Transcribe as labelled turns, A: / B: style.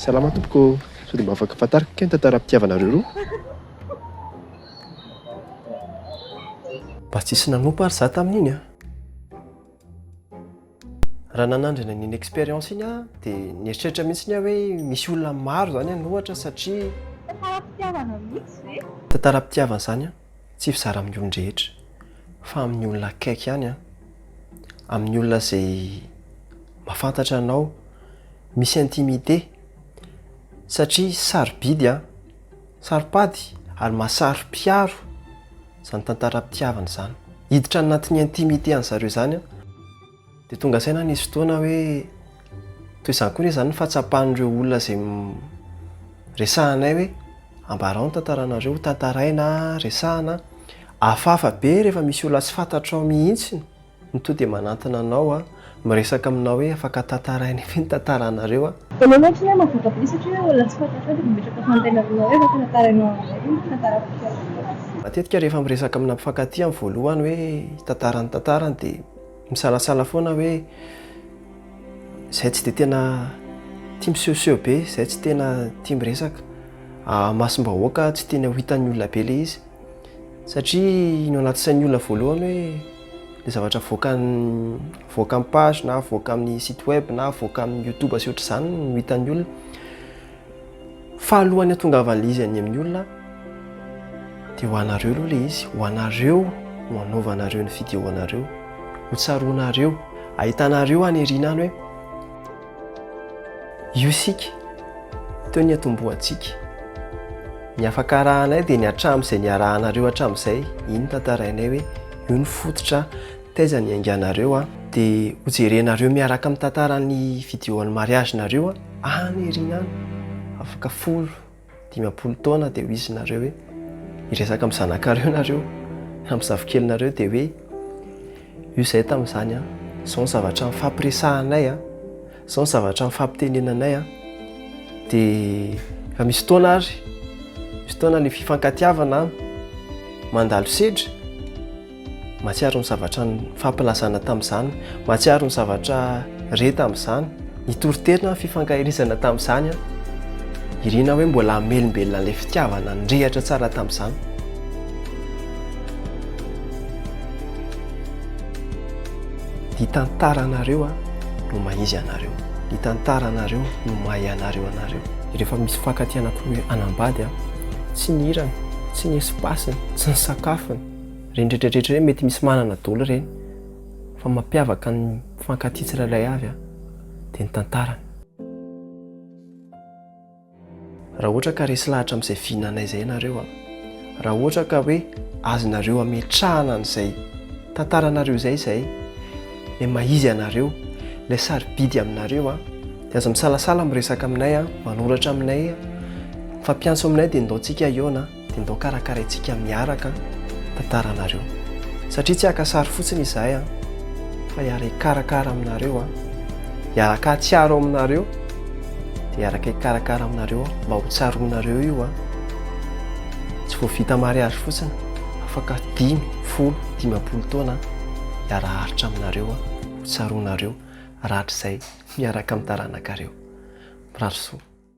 A: Salama tompoko ô! Sao dia mba afaka fantariko kay ny tantaram-pitiavanareo roa?
B: Mba tsisy nanompa ary za tamin'iny a! Raha nanandrana an'iny expérience iny aho dia nieritreritra mihitsy aho hoe misy olona maro izany any ohatra satria. Tantaram-pitiavana
C: mihitsy ve? Tantaram-pitiavana izany
B: an, tsy fizara amin'ny olon-drehetra fa amin'ny olona akaiky ihany an, amin'ny olona izay mahafantatra anao. misy intimité satria sarobidy an! Saropady ary mahasaropiaro izany tantaram-pitiavana izany. Hiditra any anatin'ny intimité an'i zareo izany an! Dia tonga saina nisy fotoana hoe toy izany koa izany ny fahatsapan'ireo olona izay resahanay hoe ambarao ny tantaranareo ho tantaraina, resahina. Hafahafa be rehefa misy olona tsy fantatrao mihitsy. Ny toa dia manantona anao a. Miresaka aminao hoe afaka tantarainay ve ny tantaranareo a. Aleo mihoatra ny ahy mavotako be satria hoe olona tsy fantatrao
C: dia mimetraka fanontaniana aminao hoe afaka tantarainao aminay ve ny tantaram-pitiavanao. Matetika rehefa miresaka
B: amina mpifankatia amin'ny voalohany hoe hitantara ny tantarany dia misalasala foana hoe izay tsy dia tena tia misehoseho be, izay tsy tena tia miresaka, ahamasom-bahoaka, tsy tiany ho hitan'ny olona be ilay izy. Satria iny ao anaty sain'ny olona voalohany hoe ilay zavatra avoakan'ny avoaka amin'ny page na avoaka amin'ny site web na avoaka amin'ny YouTube sy ohatr'izany no hitan'ny olona. Fahalohan'ny hatongavan'ilay izy any amin'ny olona dia ho anareo aloha ilay izy, ho anareo no anaovanareo ny vidéo anareo, ho tsaroanareo, ahitanareo any aoriana any hoe. Io isika, teo ny atombohantsika. Ny afaka arahanay dia ny hatramin'izay niarahanareo hatramin'izay, iny tantarainay hoe io ny fototra taiza niainganareo an. Dia ho jerenareo miaraka amin'ny tantaran'ny video an'ny mariage-nareo an, any ery any, afaka folo. Dimampolo taona dia ho izy nareo hoe hiresaka amin'ny zanakareo nareo na amin'ny zafikelinareo dia hoe io izay tamin'izany an, izao ny zavatra nifampiresahanay an, izao ny zavatra nifampitenenanay an, dia efa misy taona ary, misy taona ny fifankatiavana an, mandalo sedra. Mahatsiaro ny zavatra nifampilazaina tamin'izany, mahatsiaro ny zavatra re tamin'izany, nitory tena fifankahirizana tamin'izany aho. Irina hoe mbola hamelombelona an'ilay fitiavana nirehitra tsara tamin'izany. Ny tantaranareo no mahizy anareo, ny tantaranareo no mahay anareo anareo. Rehefa misy mifankatia anankiroa hanambady, tsy ny hirany, tsy ny espace-ny, tsy ny sakafony, Reny retratretra reny mety misy manana dolo reny fa mampiavaka ny mpifankatia tsirairay avy an dia ny tantarany. Raha ohatra ka resy lahatra amin'izay vina anay izay ianareo an, raha ohatra ka hoe azonareo hametrahana an'izay tantaranareo izay izahay, ilay maha izy anareo, ilay sarobidy aminareo an, dia aza misalasala miresaka aminay an, manoratra aminay an, mifampiantso aminay dia indaontsika hihaona an. Dia ndao karakaraintsika miaraka tantaranareo. Satria tsy haka sary fotsiny izahay an! Fa hiara hikarakara aminareo an! Hiaraka hahatsiaro aminareo, dia hiaraka hikarakara aminareo aho mba ho tsaroanareo io an! Tsy vao vita mariazy fotsiny, afaka dimy, folo, dimampolo taona an! Hiara haharitra aminareo aho, ho tsaroanareo, rahatrizay miaraka amin'ny taranakareo. Mirary soa.